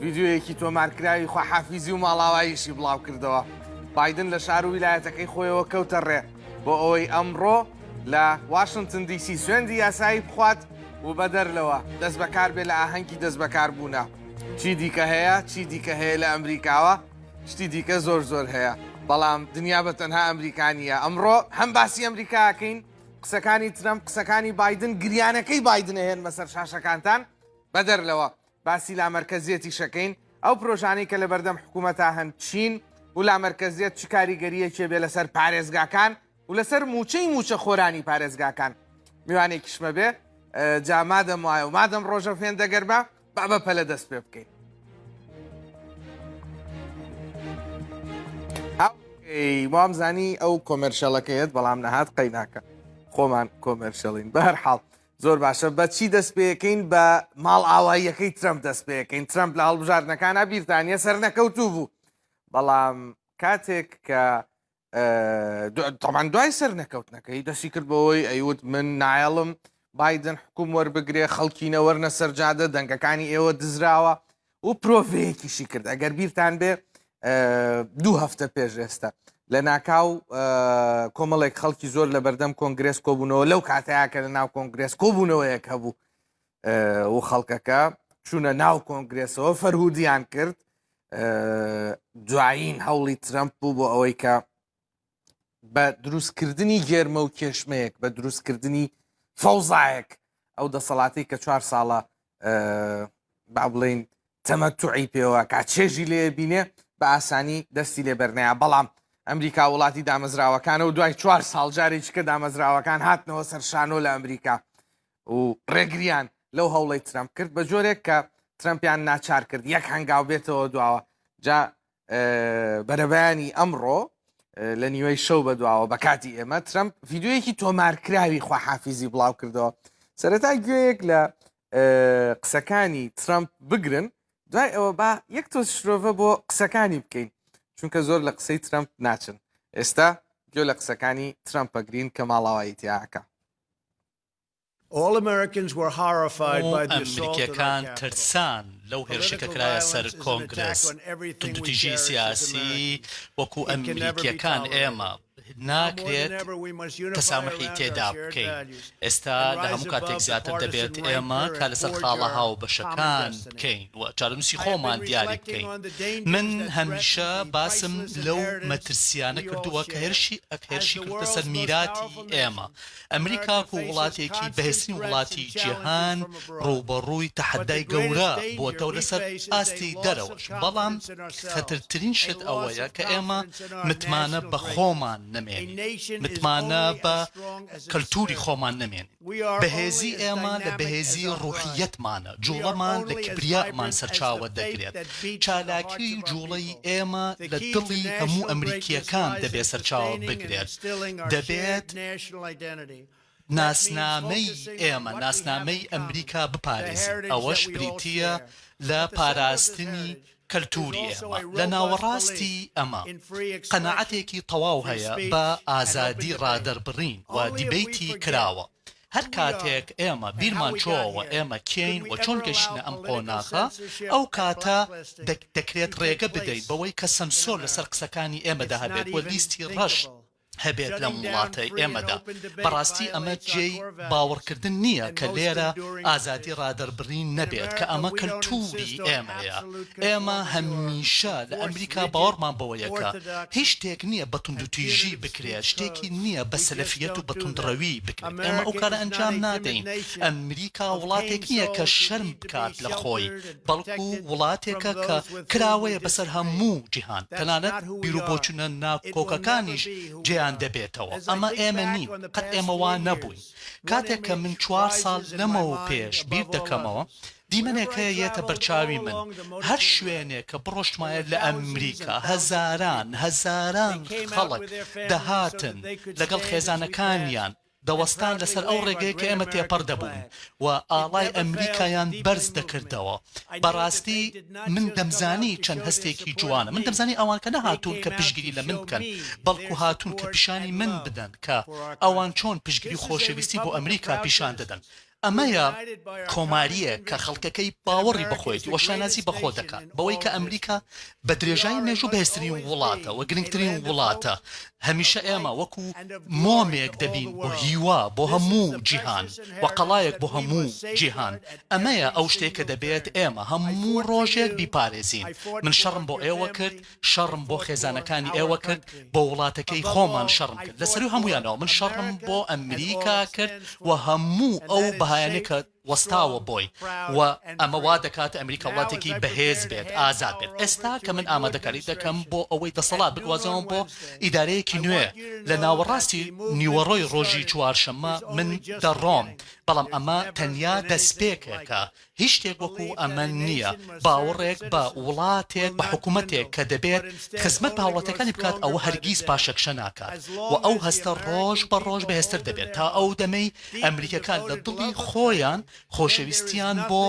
ڤیدیۆیەکی تۆمارکراوی خواحافیزی و ماڵاواییشی بڵاوکردەوە. بایدن لە شار و ویلایەتەکەی خۆیەوە کەوتە ڕێ بۆ ئەوەی ئەمڕۆ لە واشنتن دیسی سوێندی یاسایی بخوات و بەدەر لەوە دەست بەکار بێ لە ئاهەنگی دەست بەکاربوونە. چی دیکە هەیە چی دیکە هەیە لە ئەمریکاوە شتی دیکە زۆر زۆر هەیە بەڵام دنیا بە تەنها ئەمریکانیە ئەمڕۆ هەم باسی ئەمریکاکەین قسەکانی ترەم قسەکانی بادن گریانەکەی بادنە هێنمە سەر شاشەکانتان بەدەر لەوە باسی لامەرکەزیەتیش ئەکەین، ئەو پرۆژانەی کە لەبەردەم حکومەتا هەن چین و لامەرکەزیەت چ کاریگەریەکی ئەبێ لەسەر پارێزگاکان و لەسەر موچەی موچەخۆرانی پارێزگاکان؟ میوانێکیشمە بێ جا مادەم وایە و مادەم ڕۆژە فێندە گەربە با بە پەلە دەست پێ بکەین. وام زانی ئەو کۆمەرشەڵەکەیەت بەڵام نەهات قەیناکە خۆمان کۆمەرشەڵین بە هەر حاڵ. زۆر باشە بە چی دەست پێکەین بە ماڵئاواییەکەی ترەمپ دەست پێکەین ترەمپ لە هەڵبژاردنەکانە بیرتانە سەرنەکەوتوو بوو بەڵام کاتێک کە تەمان دوای سەر نەکەوتنەکەی دەستی کرد بەوەی ئەیوت من نایڵم بادن حکوم وەربگرێ خەڵکینە وەرنە سەرجادە دەنگەکانی ئێوە دزراوە و پرۆڤەیەکیشی کرد ئەگەر بیرتان بێ دوو هەفتە پێش ئێستا لە ناکاو کۆمەڵێک خەڵکی زۆر لە بەردەم کۆنگرس کۆبوونەوە لەو کاتەیە کە لە ناو کۆنگرس کۆبوونەوەیەک هەبوو و خەڵکەکە چوونە ناو کۆنگرسەوە فەرهودیان کرد دوایین هەوڵی ترەمپ بوو بۆ ئەوەی کە بە دروستکردنی گێرمە و کێشمەیەک بە دروستکردنی فەوزایەک ئەو دەسەڵاتی کە چوار ساڵە با بڵین تەمە توعی پێوە کا چێژی لێ بینێ بە ئاسانی دەستی لێ بەرنەیە بەڵام ئەمریکا وڵاتی دامەزراوەکانە و دوای چوار ساڵجارێکی کە دامەزراوەکان هاتنەوە سەرشانۆ لە ئەمریکا و ڕێگریان لەو هەوڵی ترەمپ کرد بە جۆرێک کە ترەمپیان ناچار کرد یەک هەنگاو بێتەوە دواوە جا بەرەبەیانی ئەمڕۆ لە نیوەی شەو بەدواوە بە کاتی ئێمە ترەمپ یددیوەیەکی تۆمارکراوی خواحافیزی بڵاو کردەوە سەرەتا گوێیەک لە قسەکانی ترەمپ بگرن دوای ئەوە با یەک تۆ شرۆڤە بۆ قسەکانی بکەین چونکە زۆر لە قسەی ترەمپ ناچن ئێستا گوێ لە قسەکانی ترەمپەگرین کە ماڵاواییتیاکە ئەمریکییەکان ترسان لەو هێرشە کە کرایە سەر کۆنگرێس، توندوتیژی سیاسی وەکو ئەمریکییەکان ئێمە ناکرێت تەساموحی تێدا بکەین، ئێستا لە هەموو کاتێک زیاتر دەبێت ئێمە کار لەسەر خاڵە هاوبەشەکان بکەین و چارەنووسی خۆمان دیاری بکەین، من هەمیشە باسم لەو مەترسییانە کردووە کە هێرشی کردووەتە سەر میراتی ئێمە. ئەمریکا وەکو وڵاتێکی بەهێزترین وڵاتی جیهان ڕووبەڕووی تەحەدای گەورە بۆتەوە لەسەر ئاستی دەرەوەش، بەڵام خەترترین شت ئەوەیە کە ئێمە متمانە بە خۆمان نەمێنین، متمانە بە کەلتوری خۆمان نەمێنین. بەهێزی ئێمە لە بەهێزی ڕوحیەتمانە، جوڵەمان لە کبریامان سەرچاوە دەگرێت، چالاکی و جوڵەی ئێمە لە دڵی هەموو ئەمریکییەکان دەبێت سەرچاوە بگرێت، دەبێت ناسنامەی ئێمە، ناسنامەی ئەمریکا بپارێزین، ئەوەش بریتییە لە پاراستنی کەلتووری ئێمە. لە ناوەڕاستی ئەمە، قەناعەتێکی تەواو هەیە بە ئازادی ڕادەربڕین و دیبەیتی کراوە. هەر کاتێک ئێمە بیرمان چۆوە ئێمە کێین و چۆن گەیشتینە ئەم قۆناغە، ئەو کاتە دەکرێت ڕێگە بدەین بەوەی کە سەنسۆر لەسەر قسەکانی ئێمەدا هەبێت و لیستی ڕەش، هەبێت لەم وڵاتەی ئێمەدا. بەڕاستی ئەمە جێی باوەڕکردن نییە کە لێرە ئازادی ڕادەربڕین نەبێت، کە ئەمە کەلتووری ئێمەیە. ئێمە هەمیشە لە ئەمریکا باوەڕمان بەوەیە کە هیچ شتێک نییە بە توندوتیژی بکرێت، شتێکی نییە بە سەلەفییەت و بە توندڕەوی بکرێت. ئێمە ئەو کارە ئەنجام نادەین. ئەمریکا وڵاتێک نییە کە شەرم بکات لە خۆی. بەڵکو وڵاتێکە کە کراوەیە بەسەر هەموو جیهان، تەنانەت بیرو بۆچونە ناکۆکەکانیش جێیان دەبێتەوە، ئەمە ئێمە نین، قەت ئێمە وا نەبووین، کاتێک کە من چوار ساڵ لەمەو پێش بیر دەکەمەوە، دیمەنێک هەیە یەتە بەرچاوی من، هەر شوێنێک کە بڕۆشتمایە لە ئەمریکا هەزاران هەزاران خەڵک دەهاتن لەگەڵ خێزانەکانیان، دەوەستان لەسەر ئەو ڕێگەیە کە ئێمە تێپەڕ دەبووین و ئاڵای ئەمریکایان بەرز دەکردەوە. بەڕاستی من دەمزانی چەند هەستێکی جوانە. من دەمزانی ئەوان کە نەهاتوون کە پشتگیری لە من بکەن، بەڵکو هاتوون کە پیشانی من بدەن کە ئەوان چۆن پشتگیری و خۆشەویستی بۆ ئەمریکا پیشان دەدەن. ئەمەیە کۆماریەک کە خەڵکەکەی باوەڕی بەخۆیەتی و شانازی بەخۆ دەکات بەوەی کە ئەمریکا بە درێژایی مێژوو بەهێزترین وڵاتە و گرنگترین وڵاتە، هەمیشە ئێمە وەکو مۆمێک دەبین بۆ هیوا بۆ هەموو جیهان و قەڵایەک بۆ هەموو جیهان، ئەمەیە ئەو شتەی کە دەبێت ئێمە هەموو ڕۆژێک بیپارێزین، من شەڕم بۆ ئێوە کرد، شەڕم بۆ خێزانەکانی ئێوە کرد بۆ وڵاتەکەی خۆمان شەڕم کرد لەسەروی هەمویانەوە من شەڕم بۆ ئەمریکا کرد و هەموو ئەو بەهایانەی کە وەستاوە بۆی و ئەمە وا دەکات ئەمریکا وڵاتێکی بەهێز بێت ئازاد بێت ئێستا کە من ئامادەکاری دەکەم بۆ ئەوەی دەسەڵات بگوازەوەم بۆ ئیدارەیەکی نوێ لە ناوەڕاستی نیوەڕۆی ڕۆژی چوارشەممە من دەڕۆم بەڵام ئەمە تەنیا دەستپێکێکە هیچ شتێک وەکو ئەمە نییە، باوەڕێک بە وڵاتێک بە حکومەتێک کە دەبێت خزمەت بە هاوڵاتیەکانی بکات ئەوە هەرگیز پاشەکشە ناکات و ئەو هەستە ڕۆژ بە ڕۆژ بەهێزتر دەبێت تا ئەو دەمەی ئەمریکیەکان لە دڵی خۆیان خۆشەویستیان بۆ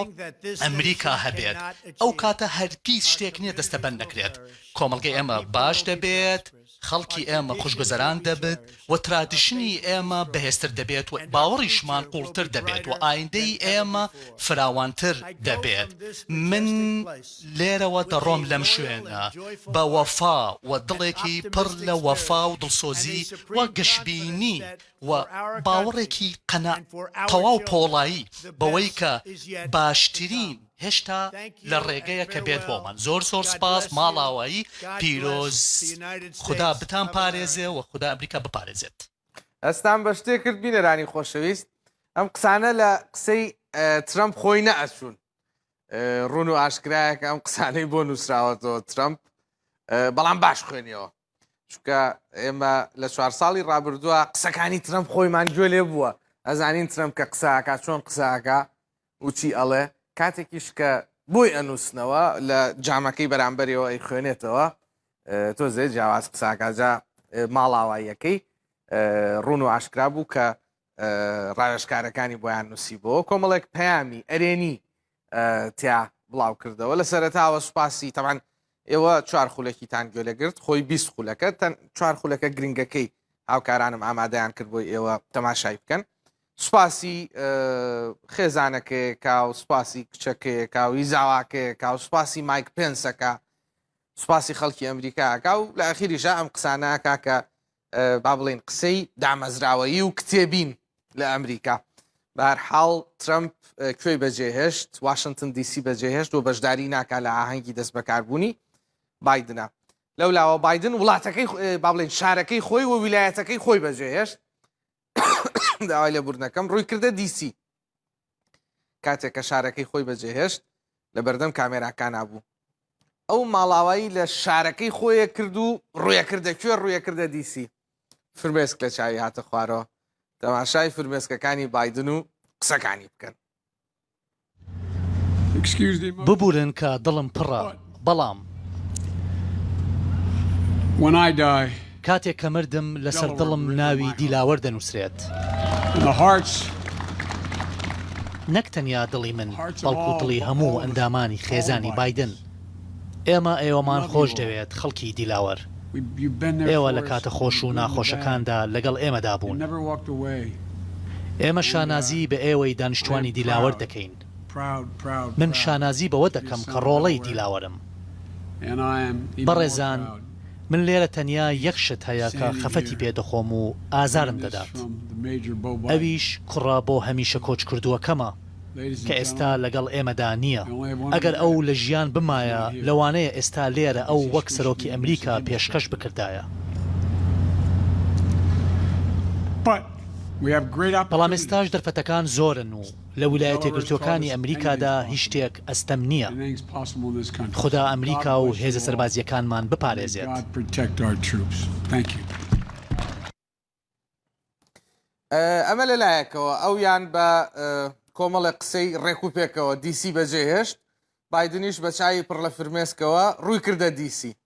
ئەمریکا هەبێت ئەو کاتە هەرگیز شتێک نییە دەستەبەند نەکرێت کۆمەڵگەی ئێمە باش دەبێت. خەڵکی ئێمە خوشگوزەران دەبت و ترادیشنی ئێمە بەهێزتر دەبێت و باوەڕیشمان قوڵتر دەبێت و ئایندەی ئێمە فراوانتر دەبێت من لێرەوە دەڕۆم لەم شوێنە بە وەفا و دڵێکی پڕ لە وەفا و دڵسۆزی و گەشبینی و باوەڕێکی قەناع تەواو پۆڵایی بەوەی کە باشترین هێشتا لە ڕێگەیە کە بێت بۆمان. زۆر زۆر سپاس ماڵاوایی پیرۆز خودا بتان پارێزێ و خودا ئەمریکا بپارێزێت. دەستان بە شتێ کرد بینەرانی خۆشەویست ئەم قسانە لە قسەی ترەمپ خۆی نەئەچوون ڕون و ئاشکرایەکە ئەم قسانەی بۆ نووسراوەتەوە ترەمپ بەڵام باش خوێنیەوە چونکە ئێمە لە چوار ساڵی ڕابردووە قسەکانی ترەم خۆیمان گوێ لێ بووە ئەزانین ترەم کە قساکە چۆن قساکە وچی ئەڵێ کاتێکیش کە بۆی ئەنووسنەوە لە جامەکەی بەرامبەرەوە ئەی خوێنێتەوە تۆ زێ جیاواز قساکە جا ماڵاواییەکەی ڕون و ئاشکرا بوو کە ڕاوێشکارەکانی بۆیان نووسی بۆ کۆمەڵێک پەیامی ئەرێنی تیا بڵاو کردەوە لە سەرتاوە سوپاسی تەمان ئێوە چوار خولەکیتان گوێ لەگرت خۆی بیست خولەکە تەن چوار خولەکە گرنگەکەی هاوکارانم ئامادەیان کرد بۆی ئێوە تەماشای بکەن سوپاسی خێزانەکەیەکە و سوپاسی کچەکەیەکە و هیزاواکەیەکە و سوپاسی مایک پێنسەکە سوپاسی خەڵکی ئەمریکاکە و لە ئەخیریشە ئەم قسانەکە کە با بڵێین قسەی دامەزراوەیی و کتێبین لە ئەمریکا بارحاڵ ترەمپ کوێی بەجێهێشت واشنگتن دیسی بەجێهێشت و بەشداری ناکا لە ئاهەنگی دەست بەکاربوونی بادنە لەو لاوە بادن وڵاتەکەی با بڵێن شارەکەی خۆی و ویلایەتەکەی خۆی بەجێهێشت داوای لە بردنەکەم ڕووی کردە دیسی کاتێک کە شارەکەی خۆی بەجێهێشت لە بەردەم کامێراکانا بوو ئەو ماڵاوایی لە شارەکەی خۆیە کرد و ڕویەکردە کوێ ڕویەکردە دیسی فرمێسک لە چاوی هاتە خوارەوە تەماشای فرمێسکەکانی بادن و قسەکانی بکەن ببورن کە دڵم پڕە. بەڵام. کاتێک کە مردم، لەسەر دڵم ناوی دیلاوەر دەنووسرێت. نەک تەنیا دڵی من، بەڵکو دڵی هەموو ئەندامانی خێزانی بایدن. ئێمە ئێوەمان خۆش دەوێت، خەڵکی دیلاوەر. ئێوە لە کاتە خۆش و ناخۆشەکاندا لەگەڵ ئێمەدا بوون. ئێمە شانازی بە ئێوەی دانیشتووانی دیلاوەر دەکەین. من شانازی بەوە دەکەم کە ڕۆڵەی دیلاوەرم. بەڕێزان، من لێرە تەنیا یەک شت هەیە کە خەفەتی پێ دەخۆم و ئازارم دەدات، ئەویش کوڕە بۆ هەمیشە کۆچکردووەکەمە، کە ئێستا لەگەڵ ئێمەدا نییە. ئەگەر ئەو لە ژیان بمایە، لەوانەیە ئێستا لێرە ئەو وەک سەرۆکی ئەمریکا پێشکەش بکردایە. بەڵام ئێستاش دەرفەتەکان زۆرن و. لە ولایەتەیەکگرتووەکانی ئەمریکادا هیچ شتێک ئەستەم نییە. خودا ئەمریکا و هێزە سەربازییەکانمان بپارێزێت. ئەمە لە لایەکەوە ئەویان بە کۆمەڵێک قسەی ڕێک و پێکەوە دی سی بەجێهێشت، بایدنیش بە چاوی پڕ لە فرمێسکەوە ڕووی کردە دی سی.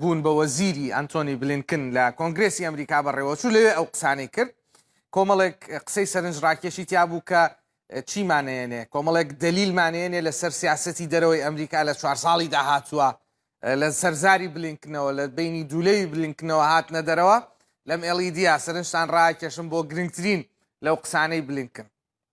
بوون بە وەزیری ئەنتۆنی بلینکن لە کۆنگرێسی ئەمریکا بەڕێوەچوو لەوێ ئەو قسانەی کرد کۆمەڵێک قسەی سەرنج ڕاکێشی تیا بوو کە چیمانەیەنێ کۆمەڵێک دلیلمانەیەنێ لەسەر سیاستی دەرەوەی ئەمریکا لە چوار ساڵی داهاتووە لە سەرزاری بلینکنەوە لە بینی دوولەوی بلینکنەوە هاتنە دەرەوە لەم ئێڵیدیا سەرنجتان ڕاکێشم بۆ گرنگترین لەو قسانەی بلینکن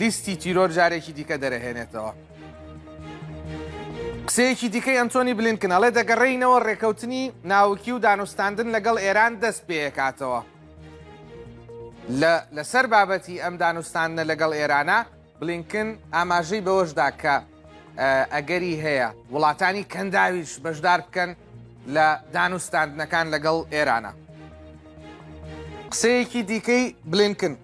لیستی تیرۆر جارێکی دیکە دەرەهێنێتەوە. قسەیەکی دیکەی ئەنتۆنی بلینکن ئەڵێ دەگەڕێینەوە ڕێکەوتنی ناوکی و دانوستاندن لەگەڵ ئێران دەست پێکاتەوە لەسەر بابەتی ئەم دانوستاندنە لەگەڵ ئێرانە بلینکن ئاماژەی بەوەشدا کە ئەگەری هەیە وڵاتانی کەنداویش بەشدار بکەن لە دانوستاندنەکان لەگەڵ ئێرانە قسەیەکی دیکەی بلینکن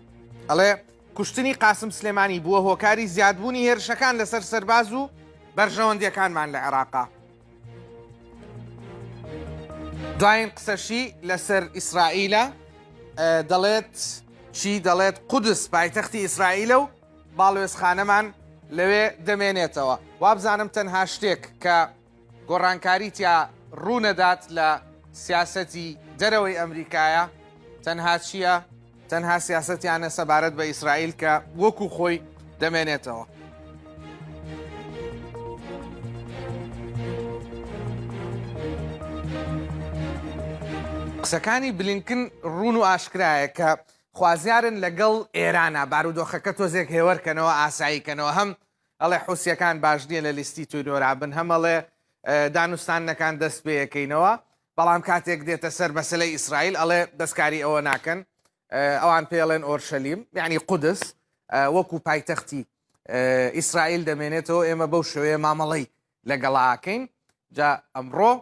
ئەڵێ کوشتنی قاسم سلێمانی بووە هۆکاری زیادبوونی هێرشەکان لەسەر سەرباز و بەرژەوەندیەکانمان لە عێراقا. دواین قسەشی لەسەر ئیسرائیلە دەڵێت چی دەڵێت قودس پایتەختی ئیسرائیلە و باڵوێزخانەمان لەوێ دەمێنێتەوە وابزانم تەنها شتێک کە گۆڕانکاری تیا ڕوونەدات لە سیاسەتی دەرەوەی ئەمریکایە تەنها چییە؟ تەنها سیاسەتیانە سەبارەت بە ئیسرائیل کە وەکو خۆی دەمێنێتەوە. قسەکانی بلینکن ڕون و ئاشکرایە کە خوازیارن لەگەڵ ئێرانە بارودۆخەکە تۆزێک هێوەرکەنەوە ئاساییکەنەوە هەم ئەڵێ حوسیەکان باش نیە لە لیستی تیرۆرا بن هەم ئەڵێ دانوستاندنەکان دەست پێەکەینەوە بەڵام کاتێک دێتە سەر مەسەلەی ئیسرائیل ئەڵێ دەستکاری ئەوە ناکەن ئەوان پێڵێن ئۆرشەلیم یعنی قودس وەکو پایتەختی ئیسرائیل دەمێنێتەوە ئێمە بەو شوێ مامەڵەی لەگەڵاکەین جا ئەمڕۆ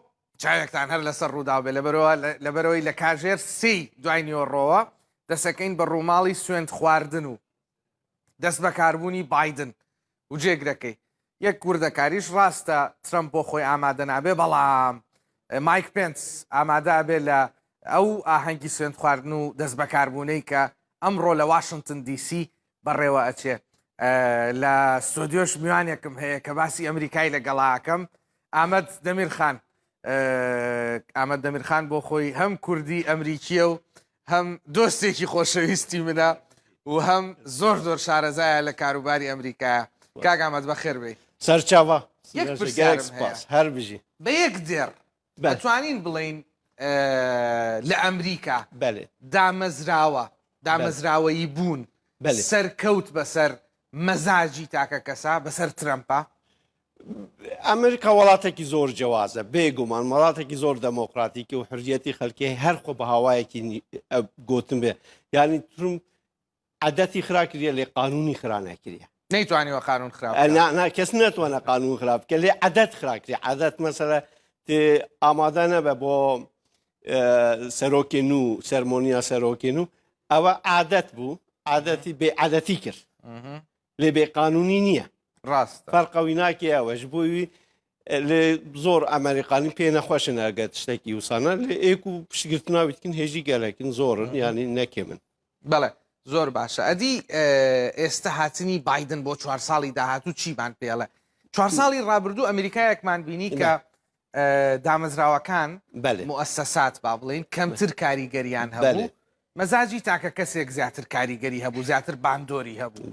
چاوێکتان هەر لەسەر ڕووداو بێ لەبەرەوە لەبەرەوەی لە کاژێر سی دوای نیۆڕۆوە دەسەکەین بە ڕووماڵی سوێند خواردن و دەستبەکاربوونی بایدن و جێگرەکەی یەک وردەکاریش ڕاستە ترەمپ بۆ خۆی ئامادە نابێ بەڵام مایک پێنس ئامادا بێ لە ئەو ئاهەنگی سوێند خواردن و دەست بەکاربوونەی کە ئەمڕۆ لە واشنگتن دیسی بەڕێوە ئەچێ لە سۆدیۆش میوانێکم هەیە کە باسی ئەمریکای لەگەڵاکەم ئامەد دەمیر خان ئامەد دەمیرخان بۆ خۆی هەم کوردی ئەمریکیە و هەم دۆستێکی خۆشەویستی منە و هەم زۆر زۆر شارەزایە لە کاروباری ئەمریکایە کاگامەت بە خێر بێ سەرچاوە هەر بژی بە یەک دێڕ بەتوانین بڵین لە ئەمریکا دامەزراوە دامەزراوەیی بوون سەرکەوت بەسەر مەزاجی تاکە کەسا بەسەر ترەمپە ئەمریکا وڵاتێکی زۆر جیاوازە بێگومان وڵاتێکی زۆر دەمۆکراتیکی و حرجەتی خەلکی هەر خۆ بە هاوایەکی گوتن بێ یانی ترم عادەتی خراکریە لێ قانونی خرانەکریە نەیتوانیوە قانون خراپ کەس ناتوانە قانون خراپ کە لێ عادەت خراکری عادەت مەسەرە ئامادە نەبە بۆ سەرۆکێن و سەرمۆنیا سەرۆکێن و ئەوە عادەت بوو عادەتی بێ عادەتی کرد لێ بێ قانونی نییە ڕاست فەرقەوی ناکێ ئەوەش بووی لێ زۆر ئەمریکانی پێ نەخۆشن ئەگەت شتێکی وسانە لە ئێک و پشتگرتناویتکن هێژی گەلەکن زۆرن ینی نەکێ من بەڵێ زۆر باشە ئەدی ئێستا هاتنی بادن بۆ چوار ساڵی داهاتوو چیمان پێڵە چوار ساڵی ڕابردوو ئەمریکایەکمان بینی کە دامەزراوەکان، موئەسەسات با بڵێین کەمتر کاریگەریان هەبوو، مەزاجی تاکە کەسێک زیاتر کاریگەری هەبوو، زیاتر باندۆری هەبوو.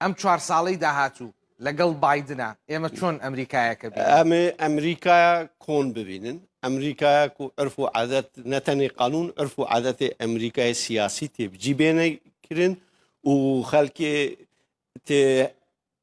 ئەم چوار ساڵەی داهاتوو لەگەڵ بادنە ئێمە چۆن ئەمریکایەکە ئەمێ ئەمریکایە کۆن ببینن ئەمریکایە و ئەرف و عادەت نەتەنی قانون ئەرف و عادەتی ئەمریکای سیاسی تێبجی بێنەکردن و خەلکێ تێ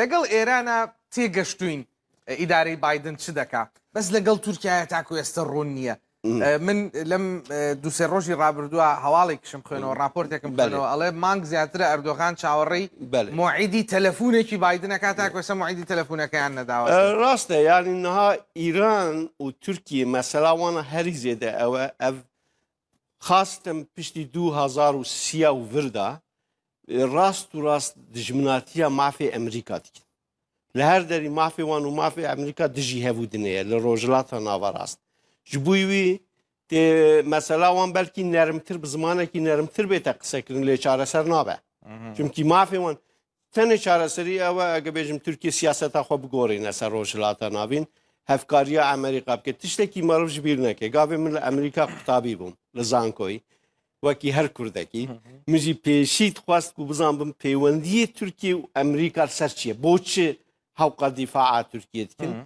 لەگەڵ ئێرانە تێ گەشتوین ئیدارەی بایدن چ دەکا بەس لەگەڵ تورکایە تاکو ئێستا ڕوون نییە من لەم دوسێ ڕۆژی ڕابردووە هەواڵێکشم خوێنەوە ڕاپۆرتێکم بەنەوە ئەڵێ مانگ زیاترە ئەردۆغان چاوەڕێی مۆعیدی تەلەفونێکی بایدنەکە تاکوێسە مۆعیدی تەلەفونەکەیان نەداوە ڕاستە یانینها ئیران و تورکی مەسەلاوانە هەری زێدە ئەوە ئەف خاستم پشتی دوو هزار و سیا و وردا ڕاست و ڕاست دژمناتیە مافی ئەمریکا دیکن لە هەر دەری مافی وان و مافی ئەمریکا دژی هەبوو دنەیە لە ڕۆژلاتە ناوەڕاست ji بووی وی مەسەلا وان بەلکی نەرمتر بزمانێکی نەرمتر بێتە قسەکردن لێ چارەسەر نابێ چونکی مافێوان تەنێ چارەسەری ئەوە ئەگە بێژم تورکی سیاسەتا خۆ بگۆڕینە سەر ڕۆژهەڵاتە ناڤین هەفکاریە ئەمریکا بکە تشتێکی مەڕژ بیر نەکە گاێ من لە ئەمریکا قوتابی بووم لە زانکۆی وەکی هەر کوردەکی مژی پێشیت خواست و بزان بم پەیوەندی تورکی و ئەمریکا سەر چییە بۆ چ هەوقە دیفاع تورکیت کرد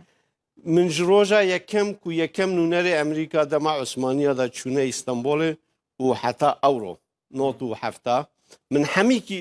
من ji ڕۆژە یەکەم و یەکەم نوونەرێ ئەمریکا دەما عوسمانیادا چوونە ئیستانبولێ و حتا ئەوڕۆ نۆ و هەفتا من هەمیکی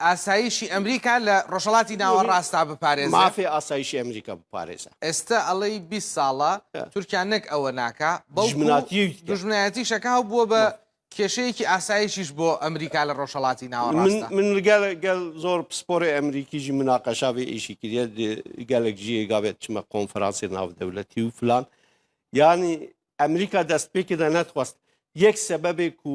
ئاسایشی ئەمریکا لە ڕۆژهەڵاتی ناوەڕاستا بپارێزێ. مافێ ئاسایشی ئەمریکا بپارێزە. ئێستە ئەڵێی بیست ساڵە تورکیا نەک ئەوە ناکا بەڵکو دوژمنایەتیش ئەکا و بووە بە کێشەیەکی ئاسایشیش بۆ ئەمریکا لە ڕۆژهەڵاتی ناوەڕاستە. من گەل زۆر پسپۆڕێ ئەمریکیژی مناقەشا بێ ئیشی کردە گەلک ژیێ گابێت چمە قۆنفرانسی ناودەولەتی و فلان یانی ئەمریکا دەست پێکردە نەتخواست یەک سەبەبێک و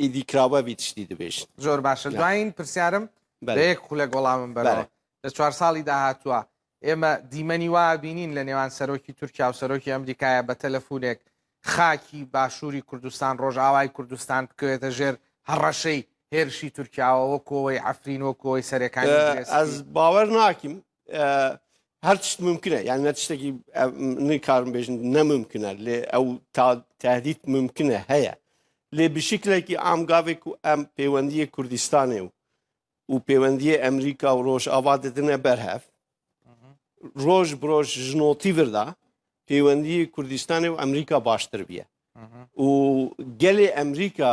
ئیدی کراوە بیت شتی دبیشت. زۆر باشە دواین پرسیارم بە یەک خولەک وەڵامم بەرەوە لە چوار ساڵی داهاتووە ئێمە دیمەنی وا ئەبینین لە نێوان سەرۆکی تورکیا و سەرۆکی ئەمریکایە بە تەلەفونێک خاکی باشووری کوردستان ڕۆژئاوای کوردستان بکەوێتە ژێر هەڕەشەی هێرشی تورکیاوە وەکۆوەی عەفرین وەکۆی سەرێکانی ئەز باوەر ناکیم هەر شت ممکنە یان نە شتێکی کارم بێژن نەممکنە لێ ئەو تا تادیت ممکنە هەیە لێ بشکلێکی ئامگاوێک و ئەم پەیوەندیە کوردستانێ و و پەیوەندیە ئەمریکا و ڕۆژ ئاوا دەدنە بەرهەف ڕۆژ برۆژ ژنۆتی بردا پەیوەندی کوردستانی و ئەمریکا باشتر بیە و گەلێ ئەمریکا